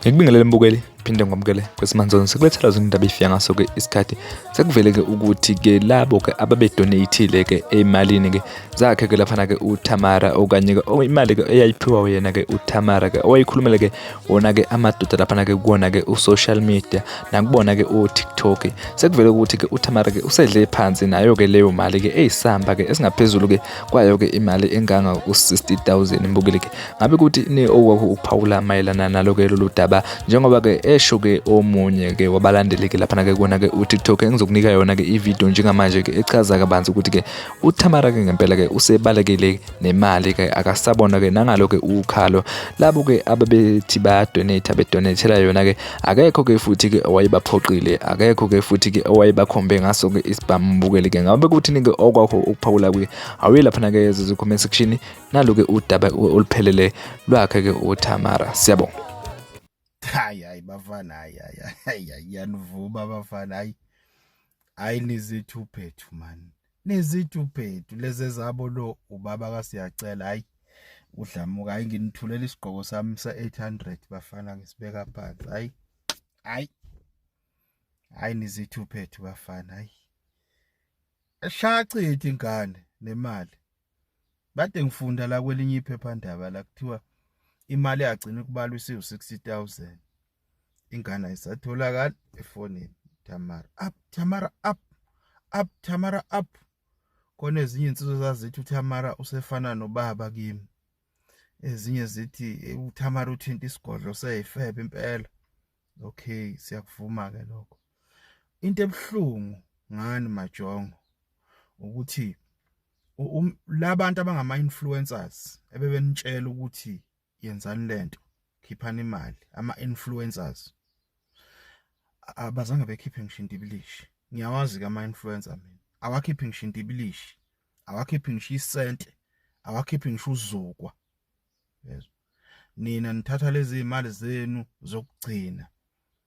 ngikubingelele mbukeli phinde ngomkele kwesimanje sikulethela zona indaba ifika ngaso ke isikhathi sekuvele ke ukuthi ke labo ke ababedonatile ke emalini ke zakhe ke laphana ke uTamara okanye ke imali ke eyayiphiwa yena ke uTamara ke owayikhulumele ke wona-ke amadoda laphana-ke kuwona-ke u-social media nakubona-ke o-tiktok sekuvele ukuthi-ke uthamara-ke usedle phansi nayo-ke leyo mali-ke eyisamba-ke esingaphezulu-ke kwayo-ke imali enganga u-sixty thousand mbukile-ke ngabe kuthi ni okwakho ukuphawula mayelana nalo-ke lolu daba njengoba-ke esho-ke omunye-ke wabalandeli-ke laphana-ke kuwona-ke u-tiktok engizokunika yona-ke ividiyo njengamanje-ke echaza kabanzi ukuthi-ke uthamara-ke ngempela-ke usebalekile nemali ke akasabona ke nangalo ke ukhalo labo ke ababethi baya donate abedonatela yona ke akekho ke futhi ke owayebaphoqile akekho ke futhi ke owayebakhombe ngaso ke isibambukeli ke ngabe kuthi ke okwakho ukuphawula kuye awuye lapha ke ezo comment section nalo ke udaba oluphelele lwakhe ke uTamara siyabonga hayi hayi bafana hayi hayi hayi yanivuma bafana hayi hayi nizithu phethu mani nezidubhedu lezi ezabo lo ubaba kasiyacela hayi udlamuka hayi nginithulela isigqoko sami se-800 bafana ngisibeka phansi hayi hayi hayi nizithuphethu bafana hayi shachithi ingane nemali bade ngifunda la kwelinye iphephandaba la kuthiwa imali yagcina kubalwa isiwu 60000 ingane ayisatholakali efonini Tamara up Tamara up up Tamara up kona ezinye insizwe zazithi uTamara usefana nobaba kimi ezinye zithi uTamara uthinta isigodlo seyifebe impela okay siyakuvuma ke lokho into ebuhlungu ngani majongo ukuthi labantu abangama influencers ebebenitshela ukuthi yenzani lento khiphani imali ama influencers abazange bekhiphe ngisho indibilishi ngiyawazi ke ama influencer mina awakhiphi ngisho indibilishi awakhiphi ngisho isente awakhiphi ngisho uzukwa yezwa nina nithatha lezi imali zenu zokugcina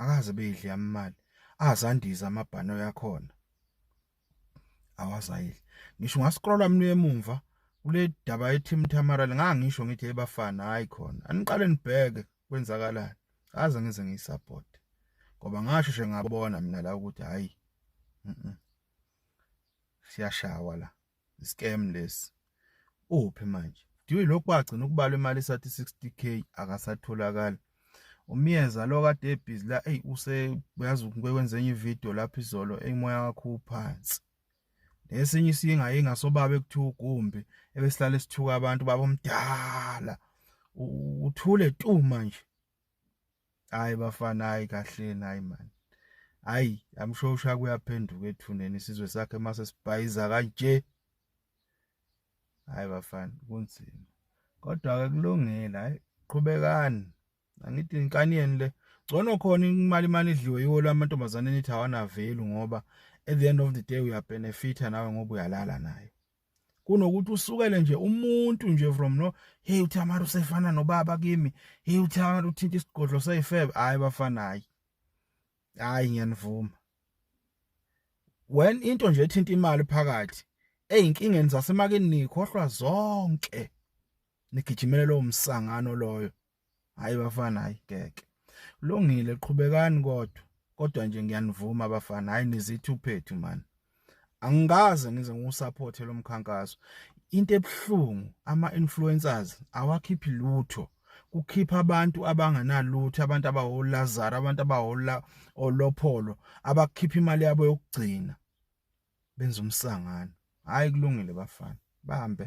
akaze beyidle yamimali azandiza amabhano yakhona awazayidle ngisho ngascrolla mina emumva kule daba eTeam Tamara ngangisho ngithi ebafana hayi khona aniqale nibheke kwenzakalani aze ngize ngiyisupport ngoba ngasho nje ngabona mina la ukuthi hayi siyashawa la scam lesi uphi manje diwe lokhu wagcina ukubala imali esathi 60k akasatholakali umyeza lo kade ebhizi la eyi use uyazi ukwenza enye ividiyo lapho izolo eyimoya wakho uphansi nesinye isinga ingasobaba ekuthiwa ugumbi ebesihlale sithuka abantu babomdala uthule tu manje hayi bafana hayi kahleni hayi man hayi i'm sure usha kuyaphenduka ethuneni isizwe sakhe mase sibhayiza kanje hayi bafana kunzima kodwa ke kulungile hayi qhubekani angithi inkani yeni le Ngcono khona imali imali idliwe yiwo lamantombazane nithi awanavelu ngoba at the end of the day uyabenefitha nawe ngoba uyalala naye. kunokuthi usukele nje umuntu nje from no hey uThamara usefana nobaba kimi hey uThamara uthinta isigodlo seyifebe hayi bafana hayi hayi ngiyanivuma when into nje ethinta imali phakathi ezinkingeni zasemakini nikhohlwa zonke nigijimele lo msangano loyo hayi bafana hayi ngeke lungile qhubekani kodwa kodwa nje ngiyanivuma abafana hayi nizithi uphethu mani angikaze ngize ngiwusapothe lo mkhankaso into ebuhlungu ama-influencers awakhiphi lutho kukhipha abantu abangenalutho abantu abawolazaro abantu abawola olopholo abakhipha imali yabo yokugcina benza umsangano hayi kulungile bafana bahambe